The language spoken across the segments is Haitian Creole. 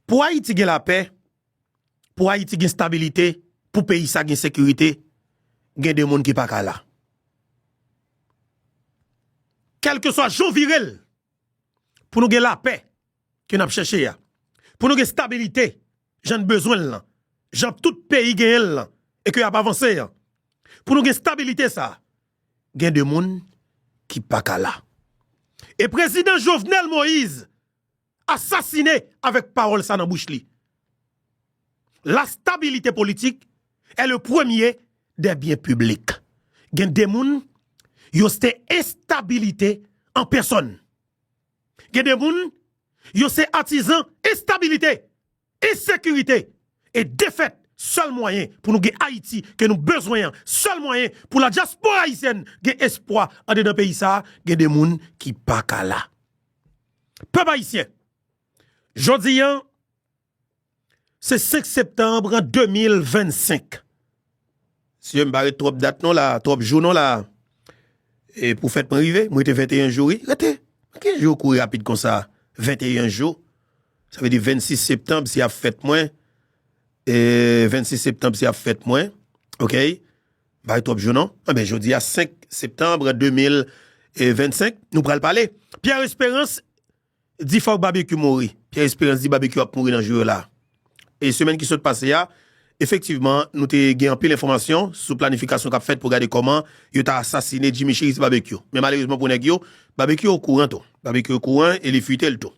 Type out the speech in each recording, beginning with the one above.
Pou Ayiti gen lapè, pou Ayiti gen stabilite, pou peyi sa gen sekirite, gen 2 moun ki pa ka la. Kèlkeswa jan w vire l, pou nou gen lapè ke n ap chèche a, pou nou gen stabilite jan n bezwen l lan, jan tout peyi genyen l lan e ke y ap avanse an, pou nou gen stabilite sa, gen 2 moun ki pa ka la. E Prezidan Jovenel Moïse Asasine avèk pawòl sa nan bouch li. La stabilité politique est le premier des biens publics. Gen de moun, yo ste enstabilite an pèsòn. Gen de moun, yo se atizan enstabilite Ensekirite e defèt sèl mwayen pou nou gen Ayiti ke nou bezwen an, sèl mwayen pou la dyaspora ayisyèn gen espwa andedan peyi sa, gen de moun ki pa ka la. Pèp ayisyen, jodi an se 5 septanbre 2025, Sye m pa ret twòp dat non la, twòp jou non la. E pou fèt mwen rive, m rete 21 jou wi. Rete, ki jou kouri rapid konsa? 21 jou, sa vle di 26 septanb se ap fèt mwen, 26 septanb se ap fèt mwen, ok, m pa ret twòp jou non. Anben jodi a 5 septanb 2025, nou pral pale. Pierre Esperance. Di fòk Babekyou mouri. Pierre Esperance di Babekyou ap mouri nan jou yo la. E semèn ki sot pase a, efektivman, nou te gen anpil enfòmasyon sou planifikasyon k ap fèt pou gade kòman yo ta asasine Jimmy Chérizier Babekyou. Men malerezman pou nèg yo, Babekyou okouran tou. Babekyou okouran e li fite l tou.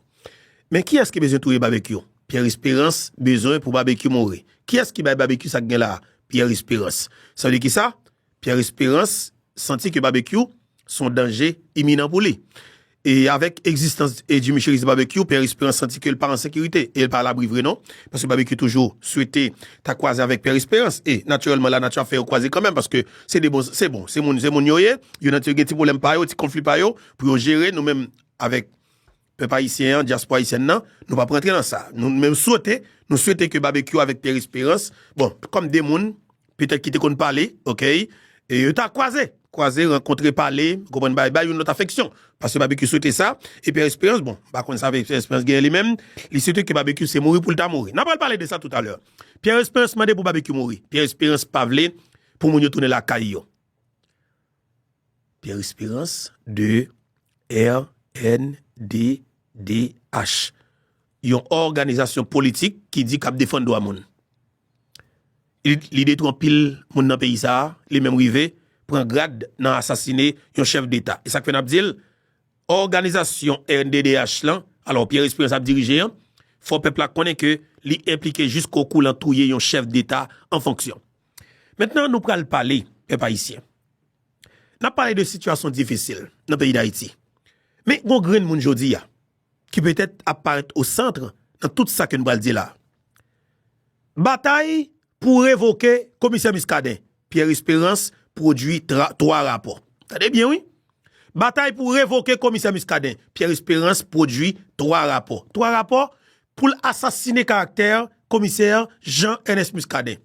Men kiyès ki bezwen touye Babekyou? Pierre Esperance bezwen pou Babekyou mouri. Kiyès ki bay Babekyou sa k gen la a? Pierre Esperance. Sa vle di kisa? Pierre Esperance santi ke Babekyou son danje iminan pou li. E avèk egzistans Jimmy Cherizier Babekyou, Pierre Esperance santi ke l pa an sekirite. E l pa alabri vre non. Paske Babekyou toujou swete ta kwaze avèk Pierre Esperance. E natirèlman lanati ap fè yo kwaze kanmenm paske se 2 bon, se bon, se moun, se moun yo ye. Yo nan ti, yo gen ti pwoblèm pa yo, ti konfli pa yo pou yo jere. Nou menm avèk. Pèp ayisyen an, dyaspò ayisyèn nan, nou pap rantre nan sa. Nou menm swete, nou swete ke Babekyou avèk Pierre Esperance, bon, kòm 2 moun, petèt ki te konn pale, ok, e yo ta kwaze, kwaze, rankontre, pale, ou konprann, bay, bay youn lòt afeksyon. Paske Babekyou swete sa, e Pierre Esperance, bon, m pa konn sa Pierre Esperance genyen li menm, li swete ke Babekyou se mouri pou l ta mouri. N apral pale de sa toutalè. Pierre Esperance mande pou Babekyou mouri. Pierre Esperance pa vle pou moun yo tounen lakay yo. Pierre Espérance de rnddh, yon òganizasyon politik ki di k ap defann dwa moun. Li detwi anpil moun nan peyi sa a, li menm rive pran grad nan asasine yon chèf deta. E sa k fè n ap di l, òganizasyon rnddh lan, alò Pierre Espérance ap dirije an, fò pèp la konnen ke li enplike jiskokou lan touye yon chèf deta an fonksyon. Mentnan nou pral pale, pèp ayisyen, nap pale de sitiyasyon difisil nan peyi dayiti. Men gon grenn moun jodi a, ki petèt ap parèt o santre nan tout sa ke nou pral di la. Batay pou revoke komisè Muscadin, Pierre Esperance pwodwi 3 rapò. Tande byen wi! Batay pou revoke komisè Muscadin, Pierre Esperance pwodui 3 rapò. 3 rapò pou l asasine karaktè komisè Jean Ernest Muscadin.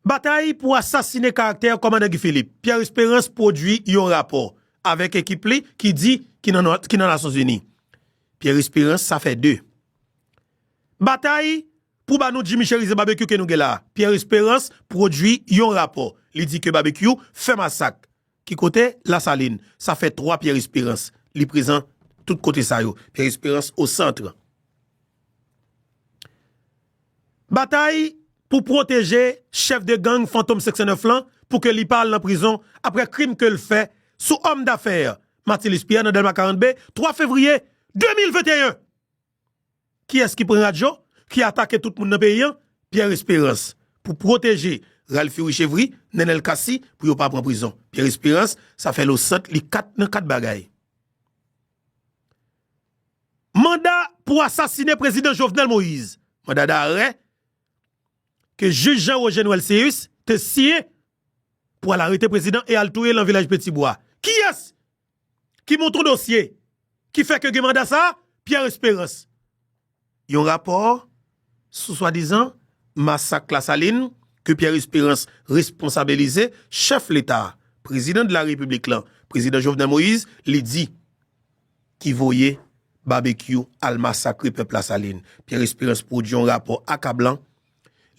Batay pou asasine karaktè kòmandan Guy Philippe, Pierre Esperance pwodui yon rapò avèk ekip li ki di ki nan Nasyonzini. Pierre Esperance sa fè 2. Batay Pou ba nou Jimmy Cherizier Barbecue ke nou gen la a, Pierre Esperance pwodui yon rapò. Li di ke Barbecue fè masak. Ki kote? Lasalin. Sa fè 3 Pierre Esperance. Li prezan tout kote sa yo. Pierre Esperance au centre. Batay pou pwoteje chèf de gang Fantom 509 lan pou ke li pa al nan prizon apre krim ke l fè sou òm dafè Matilus Pierre nan Dèlma 40B 3 fevriye 2021. Kiyès ki pran radyo, ki atake tout moun nan peyi an? Pierre Espérance pou pwoteje Ralphy Richevry, Nenel Cassy pou yo pa pran prizon. Pierre Espérance sa fè lo sant li 4 nan 4 bagay. Manda pou asasine prezidan Jovenel Moïse, manda darè ke jij Jean Roger Noël Céus te siyen pou al arete prezidan e al touye lan vilaj Petit Bois. Kiyès Ki monton dosye ki fè ke gen manda sa a, Pierre Esperance? Yon rapò sou swadizan masak Lasalin ke Pierre Esperance responsabilize chèf leta a, prezidan de la repiblik lan, prezidan Jovenel Moïse, li di, ki voye Babekyou al masakre pèp Lasalin. Pierre Esperance pwodui yon rapò akablan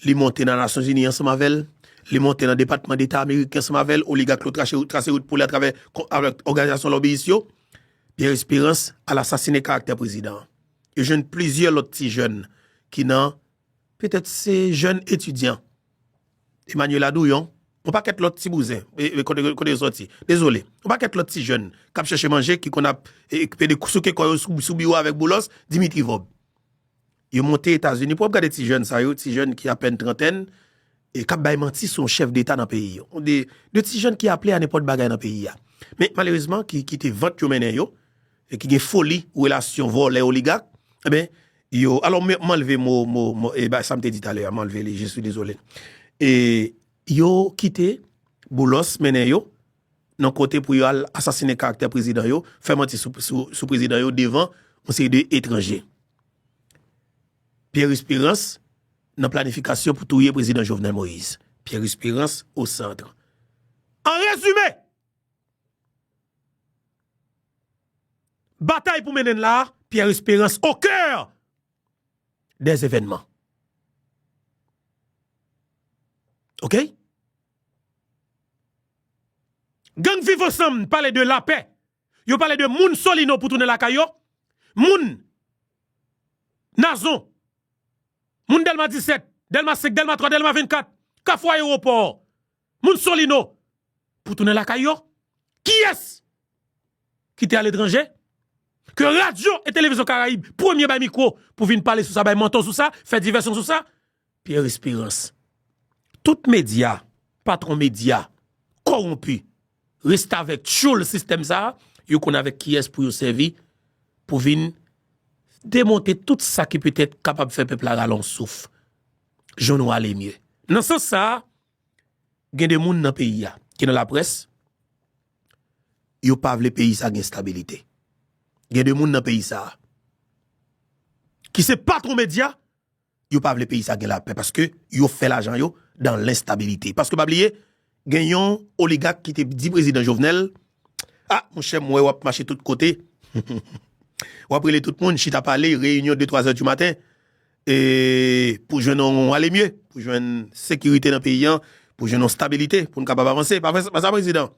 Li monte nan Nasyonzini ansanm avè l, li monte nan Depatman Deta ameriken ansanm avè l, oligak yo trase wout pou li atravè òganizasyon lòbiyis yo. Pierre Espérance al asasinen karaktè prezidan an. Yo jwenn plizyè lòt ti jèn ki nan, petèt se jèn etidyan, Emmanuela Douyon, yon pakèt lòt ti bouzen, kote yo sòti, dezole, yon pakèt lòt ti jèn k ap chèche manje ki konn ap pede souke kò yo sou biwo avèk Boulos, Dimitri Vorbe. Yo monte Etazini pou wap gade ti jèn sa yo, ti jèn ki apèn trantèn, e kap bay manti sou yon chèf deta nan peyi yo. Ou de, de ti jèn ki aple a nenpòt bagay nan peyi a. Men, malerezman, ki kite vant yo mennen yo, e ki gen foli relasyon vòlè oligak, enben, yo, alò m anlve mo, mo, mo, e ba sa m te di talè a, m anlve li, je suis désolé. E, yo kite Boulos mennen yo, nan kote pou yo al asasine karaktè prezidan yo, fè manti sou prezidan yo devan yon seri de etranje. Pierre Esperance nan planifikasyon pou touye prezidan Jovenel Moïse. Pierre Esperance au centre. An rezime, batay pou mennen la, Pierre Esperance au coeur des événements. Ok? Gang viv ansanm pale de lapè, yo pale de moun solino pou tounen lakay yo, moun nazon, moun delma 17, delma 5, delma 3, delma 24, kafou ayewopò, moun solino pou tounen lakay yo, kiyès ki te aletranje, ke radyo e televizyon karayib premye bay mikwo pou vin pale sou sa bay manto sou sa, fè divèsyon sou sa. Pierre Esperance tout media patron media kowonpi restavèk tyoul sistèm sa yo konn avèk kiyès pou yo sèvi pou vin demonte tout sa ki petèt kapab fè pèp la rale yon souf jwenn yon ale mye nan sans sa gen de moun nan peyi a ki nan laprès yo pa vle peyi sa gen stabilite gen de moun nan peyi sa ki se patron media. yo pa vle peyi sa gen lapè paske yo fè lajan yo dan lenstabilite paske pa bliye gen yon oligak ki te di prezidan Jovenel a monchè m wè wap mache tout kote wap rele tout moun chita pale reyinyon de twazè di maten pou jwenn yon alemye pou jwenn sekirite nan peyi an pou jwenn yon stabilite pou n kapab avanse pa sa prezidan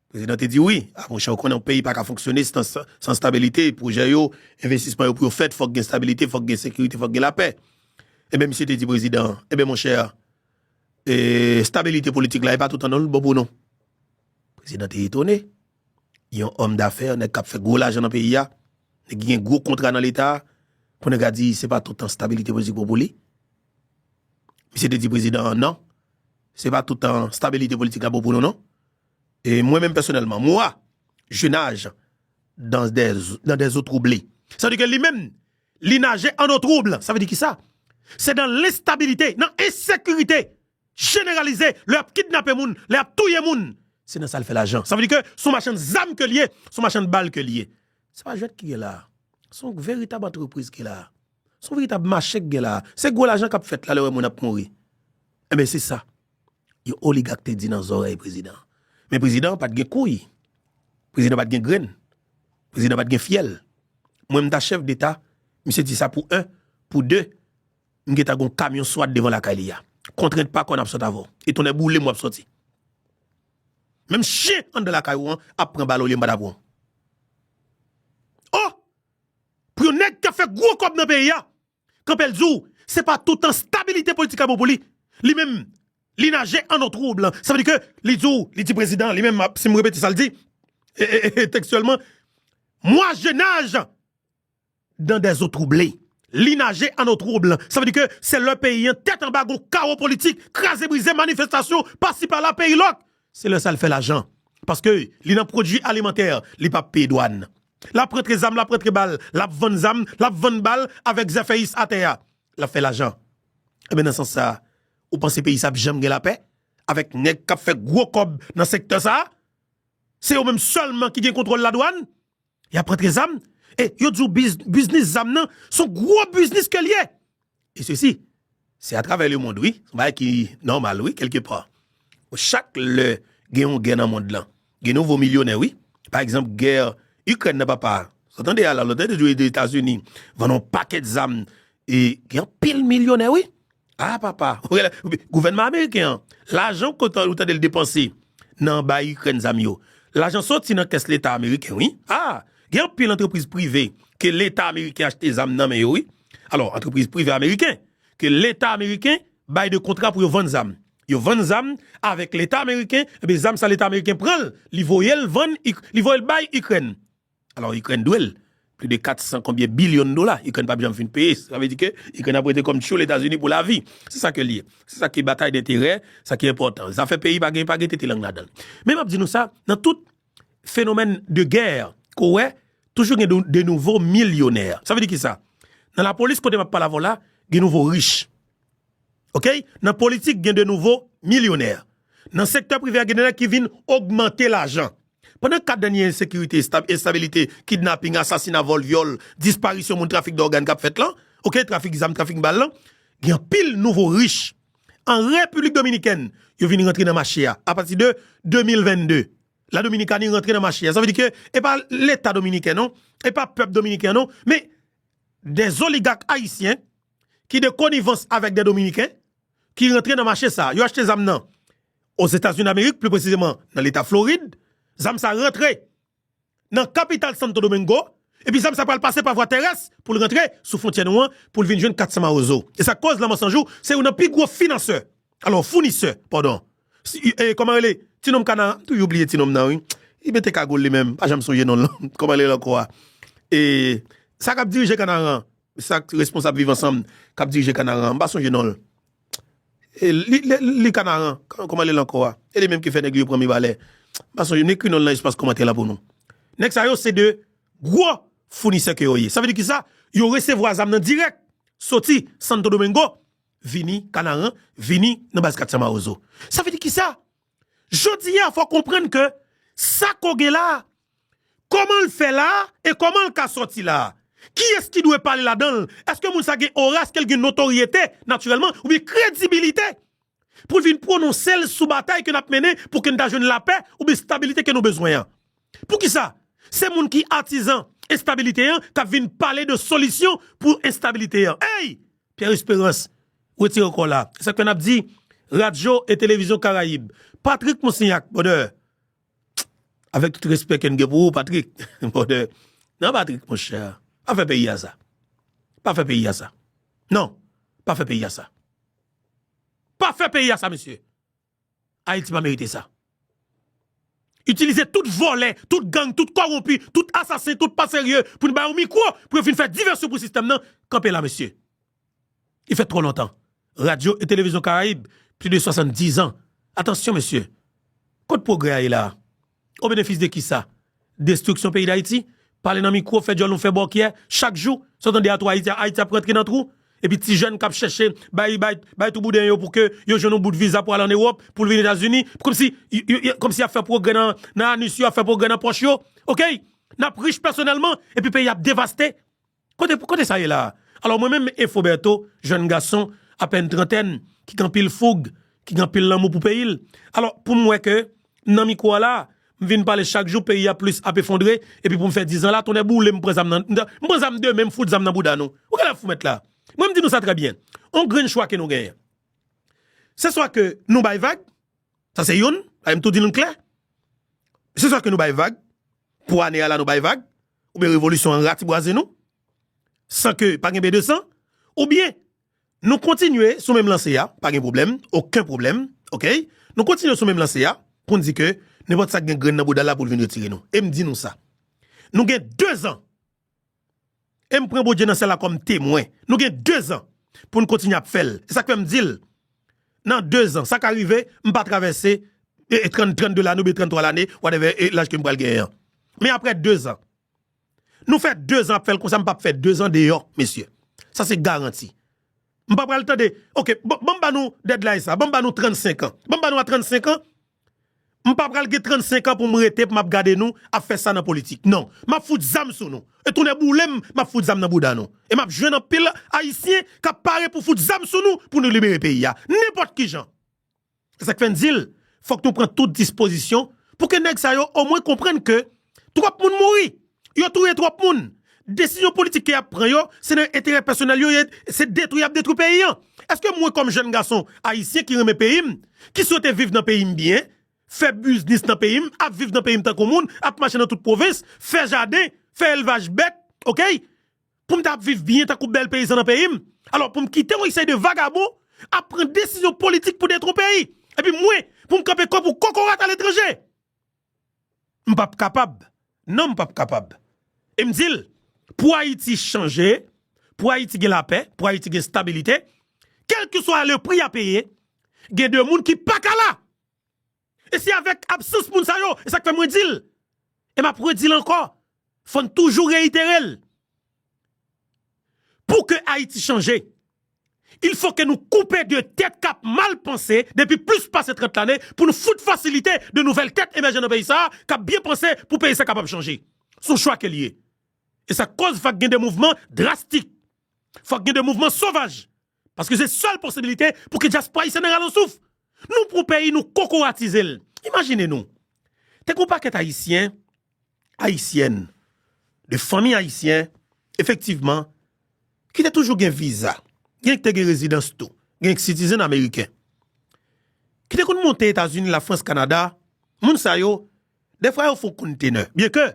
Prezidan te di wi a monchè ou konnen yon peyi paka fonksyone san stabilite, pwojè yo, envestisman yo pou yo fèt fòk gen stabilite, fòk gen sekirite, fòk gen lapè. Enben misye te di prezidan an, enben monchè e stabilite politik la e pa tout an non li bon pou nou. Prezidan te etone, yon òm dafè, nèg kap fè gwo lajan nan peyi a, nèg ki gen gwo kontra nan leta, pou nèg a di se pa tout an stabilite politik bon pou li. Misye te di prezidan an nan, se pa tout an stabilite politik la bon pou nou non. E mwen menm pèsonèlman, moi, je nage dans des eaux troublées. Sa vle di ke li menm, li naje an eau trouble. Sa vle di kisa? Se nan lenstabilite, nan ensekirite jeneralize, lè y ap kidnape moun, lè y ap touye moun, se nan sa l fè lajan. Sa vle di ke se yon machann zam ke l ye, se yon machann bal ke l ye. Se pa jwèt ki gen la a. Se yon veritab antrepriz ki la a. Se yon veritab mache ki gen la a. Se gwo lajan k ap fèt la lè w wè moun ap mouri. Enben se sa. yon oligak te di nan zòrèy prezidan an. Men prezidan an pa t gen kouy, prezidan an pa t gen grenn, prezidan an pa t gen fyèl. Mwen m ta chèf deta, misye di sa pou 1, pou 2, m gen ta gen yon kamyon swat devan lakay li a. Kontrent pa konn ap sot avè w. E tonnè boule m w ap soti. Menm chen anndan lakay ou an ap pran bal olye m pa ta pran w. O! Pou yon nèg k ap fè gwo kòb nan peyi a, Kanpèl di w se pa toutan stabilite politik la bon pou li, li menm li naje an eau trouble. Sa vle di ke li di w, li di prezidan li menm, si m repete sa l di tekstyèlman, Moi je nage dans des eaux troublées. Li naje an eau trouble. Sa vle di ke se lè peyi an tèt anba, gon kawo politik, kraze brize, manifestasyon, pasi pala, peyi lòk. Se lè sa l fè lajan. Paske li nan pwodui alimantè, li pa peye dwàn. L ap rantre zam, l ap rantre bal, l ap vann zam, l ap vann bal avèk zèfèyis atè a. L ap fè lajan. Enben nan sans sa a, ou panse peyi sa ap janm gen lapè avèk nèg k ap fè gwo kòb nan sektè sa a? Se yo menm sèlman ki gen kontwòl ladwàn? Yap rantre zam e yo di w biznis zam nan son gwo biznis ke l ye. E sesi se atravè lemond wi, son bagay ki nòmal wi kèlke pa. Chak lè gen yon gè nan mond lan, gen nouvo milyonè wi. Pa egzanp gè Ikrèn nan papa, sa tande a la, lòt lè te di w Etazini vann yon pakèt zam e gen anpil milyonè wi. Ah papa, gouvènman ameriken an, lajan ou tande l depanse nan bay Ikrèn zam yo, lajan soti nan kès leta ameriken wi. Ah, gen anpil antrepriz prive ke leta ameriken achte zam nan men yo wi. Alò, antrepriz prive ameriken ke leta ameriken bay de kontra pou yo vann zam. Yo vann zam avèk leta ameriken, enben zam sa leta ameriken pran l, li voye l vann, li voye l bay Ikrèn. Alò Ikrèn dwe l pli de 400 konbyen bilyon dola. Ikrèn pap janm fin peye. Sa vle di ke Ikrèn ap rete kòm tchyo Letazini pou lavi. Se sa ke l ye. Se sa ki batay denterè, sa ki enpòtan. Zafè peyi pa gen, pa gen tete lang ladan l. Men map di nou sa, nan tout fenomèn de gè ke w wè, toujou gen de nouvo milyonè. Sa vle di ki sa? Nan lapolis kote map pale avè w la, gen nouvo rich. ok nan politik gen de nouvo milyonè nan sektè prive a gen de nèg ki vin ogmante lajan pandan 4 dènye ensekirite estabilite kidnaping asasina vòl vyòl disparisyon moun trafik dògàn kap fèt lan ok trafik zam trafik bal lan gen anpil nouvo rich an repiblik dominikèn yo vin rantre nan mache a apati de 2022 la dominikani rantre nan mache a sa vle di ke e pa leta dominiken non e pa pèp dominiken non men de zoligak ayisyen ki de konivans avèk de Dominiken ki rantre nan mache sa. Yo achte zam nan Ozetazini Damerik, pli presizeman nan leta Florid. Zam sa rantre nan kapital Santo Domingo, epi zam sa pral pase pa vwa terès pou l rantre sou fwontyè nou an pou l vin jwenn Katsan Mawozo. E sa k koz Lanmò San Jou se youn nan pi gwo finansè, alò founisè, padon, e kòman rele ti nonm kana a? M toujou bliye ti nonm nan wi. Li mete kagoul li menm, m pa janm sonje non l. Kòman l rele ankò a? E sa k ap dirije Kanaran an? Sak responsab viv ansanm kap dirije kanaran an m pa sonje nonl li kanaran kòman li rele ankò a e li menm ki fè nèg li yo pran mibalè m pa sonje m ekri nonl nan espas kòmantè la pou nou nèg sa yo se de gwo founisè ke yo ye sa vle di kisa yo resevwa zam nan dirèk soti santodomengo vini kanaran vini nan baz 400 mawozo sa vle di kisa. Jodi a fò konprann ke sa kò gen la a, kòman l fè la a e kòman l ka sòti la a. Kiyès ki dwe pale ladan l? Èske moun sa gen ora, èske l gen notoryete natirèlman oubyen kredibilite pou l vin pwononse l sou batay ke n ap mennen pou ke n ta jwenn lapè oubyen stabilite ke nou bezwen an? Poukisa se moun ki atizan enstabilite an kap vin pale de solisyon pou enstabilite an eyy Pierre Esperance retire kòw la esak fè nap di radyo e televizyon karayib Patrick Moussignac brother avèk tout respè kem gen pou ou Patrick brother nan Patrick monchè pa fè peyi a sa pa fè peyi a sa nan pa fè peyi a sa pa fè peyi a sa mesye. Ayiti pa merite sa. Itilize tout vòlè, tout gang, tout kòwonpi, tout asasen, tout pa serye pou n ba yo mikwo pou yo vin fè divèsyon pou sistèm nan, kanpe la mesye. Li fèt twò lontan. Radyo e Televizyon Karayib, plis de 70 zan. Atansyon mesye. Kot pwogrè a ye la a? O benefis de kisa? Destriksyon peyi dayiti? Pale nan mikwo fè djòl nou fè bòkyè chak jou san tande atò ayiti ayiti ap rantre nan twou epi ti jèn kap chèche bay bay bay twou bouden yo pou ke yo jwenn yon bout viza pou al an ewòp poul vin etazini kòmsi yo kòmsi yap fè pwogrè nan nan anus yo ap fè pwogrè nan pòch yo ok nap rich pèsonèlman epi peyi ap devaste. Kote kote sa ye la a? Alò mwen menm Info Bertho, jèn gason apèn trantèn ki gen anpil foug, ki gen anpil lanmou pou peyi l, alò pou m wè ke m nan mikwo a la a, m vin pale chak jou peyi a plis ap efondre epi pou m fè 10 zan la, tonnè boule m, m pran zam nan, m pran zam demen m fout zam nan bouda nou. Ou genlè ap fou mèt la. Mwen m di nou sa trè byen. On grenn chwa ke nou genyen. Se swa ke nou bay vag, Sa se youn, bagay m tou di nou klè. Se swa ke nou bay vag, pou ane a la nou bay vag, oubyen revolisyon an ratibwaze nou, san ke pa gen bedesan, oubyen nou kontinye sou menm lanse a, pa gen pwoblèm, oken pwoblèm, okay, nou kontinye sou menm lanse a, pou n di ke nenpòt sa k gen grenn nan bouda l la pou l vin retire nou. E m di nou sa, nou gen dezan! E m pran Bondye nan syèl la kòm temwen. Nou gen dezan pou n kontinye ap fè l. Se sa k fè m di l, nan dezan, sa ka rive m pa travèse 32 lane oubyen 33 lane, whatever laj ke m pral genyen an. Men aprè dezan, nou fè dezan ap fè l konsa, m p ap fè dezan deyò, mesye. Sa se garanti. M pa pral tande, ok, ban m ba nou deadline sa, ban m ba nou 35 an. Ban m ba nou a 35 an. M pa pral gen 35 an pou m rete pou m ap gade nou ap fè sa nan politik. Non. M ap fout zam sou nou. E tonnè boule m, m ap fout zam nan bouda nou. E m ap jwenn anpil Ayisyen k ap pare pou fout zam sou nou pou nou libere peyi a. Nenpòt ki jan. Se sa k fè n di l, fòk nou pran tout dispozisyon pou ke nèg sa yo omwen konprann ke twòp moun mouri. Yo touye trop moun. Desizyon politik ke yap pran yo se nan enterè pèsonèl yo ye se detwi yap detwi peyi an. Eske mwen kòm jèn gason ayisyen ki renmen peyi m, ki swete viv nan peyi m byen, fè biznis nan peyi m, ap viv nan peyi m tankou moun, ap mache nan tout pwovens, fè jaden, fè elvaj bèt ok, pou m ta ap viv byen tankou bèl peyizan nan peyi m, alò pou m kite yon seri de vagabon ap pran desizyon politik pou detwi yon peyi. Epi mwen pou m kanpe kò pou kokorat aletranje! M pap kapab, non m pap kapab. E m di l, pou Ayiti chanje, pou Ayiti gen lapè, pou Ayiti gen stabilite, kèlkeswa le pri a peye, gen de moun ki pa ka la! E se avèk absans moun sa yo, e sa k fè mwen di l, e m ap redi l ankò, Fò n toujou reyitere l, pou ke Ayiti chanje, il fò ke nou koupe de tèt kap mal panse depi plis pase 30 lane pou nou fout fasilite de nouvèl tèt emèje nan peyi sa a kap byen panse pou peyi sa kapab chanje. S on chwa ke l ye. E sa k kòz fak gen de mouvman drastik. Fòk gen de mouvman sovaj. Paske se sèl posibilite pou ke dyaspwa ayisyen nan rale yon souf. Nou pran peyi nou kokoratize l. Imajine nou, te gen yon pakèt ayisyen, ayisyèn, de fanmi ayisyen, efektivman, ki te toujou gen viza, genyen ki te gen rezidans tou, genyen ki sitizen ameriken, ki te konn monte Etazini, Lafrans, Kanada, moun sa yo, defwa yo fon kontenè, byenke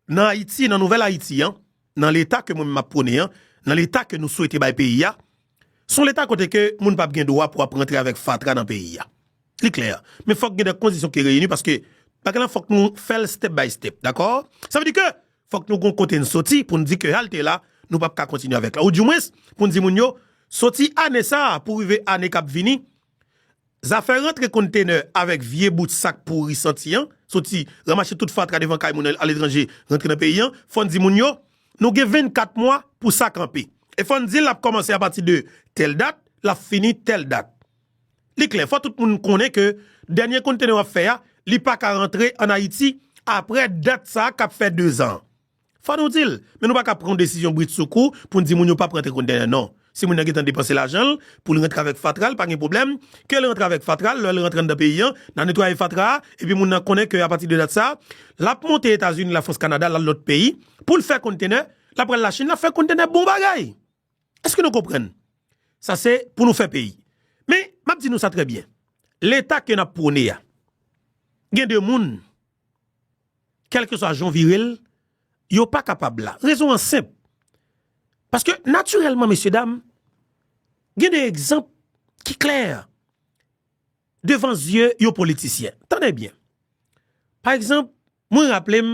Nan Ayiti, nan nouvèl Ayiti an, nan leta ke mwen menm map pwone an, nan leta ke nou swete bay peyi a, se yon leta kote ke moun pap gen dwa pou ap rantre avèk fatra nan peyi a. Li klè. Men fòk gen de kondisyon ki reyini paske bagay lan fòk nou fè l step by step. Dakò? Sa vle di ke fòk nou gon kote n soti pou n di ke halte la nou pap ka kontinye avèk la. Ou di mwens pou n di moun yo soti ane sa a pou rive ane kap vini, Zafè rantre konntenè avèk vye bout sak pouri santi an, soti ramache tout fatra devan kay moun aletranje rantre nan peyi an, fò n di moun yo, nou gen 24 mwa pou sa kanpe. E fò n di l ap kòmanse apati de tèl dat, l ap fini tèl dat. Li klè, fò tout moun konnen ke dènye konntenè w ap fè a, li pa ka rantre ann Ayiti apre dat sa k ap fè dezan an. Fò nou di l, men nou pa ka pran yon desizyon brit sou kou pou n di moun yo pap rantre kontenè non. Si moun nan gentan depanse lajan l pou l rantre avèk fatra l pa gen pwoblèm, ke l rantre avèk fatra l, lè l rantre anndan peyi an, n a netwaye fatra a, epi moun nan konnen ke apati de dat sa a, l ap monte Etazini, Lafrans, Kanada, l al lòt peyi pou l fè kontenè, l ap pral Lachin, l ap fè kontenè bon bagay! Eske nou konprann? Sa se pou nou fè peyi. Men, m ap di nou sa trè byen. Leta ke n ap pwone a, gen de moun, kèlkeswa jan w vire l, yo pa kapab la. Rezon an senp. Paske, natirèlman, mesye dam, gen de egzanp ki klè devan zye yon politisyen. Tande byen. Pa egzanp, mwen raple m.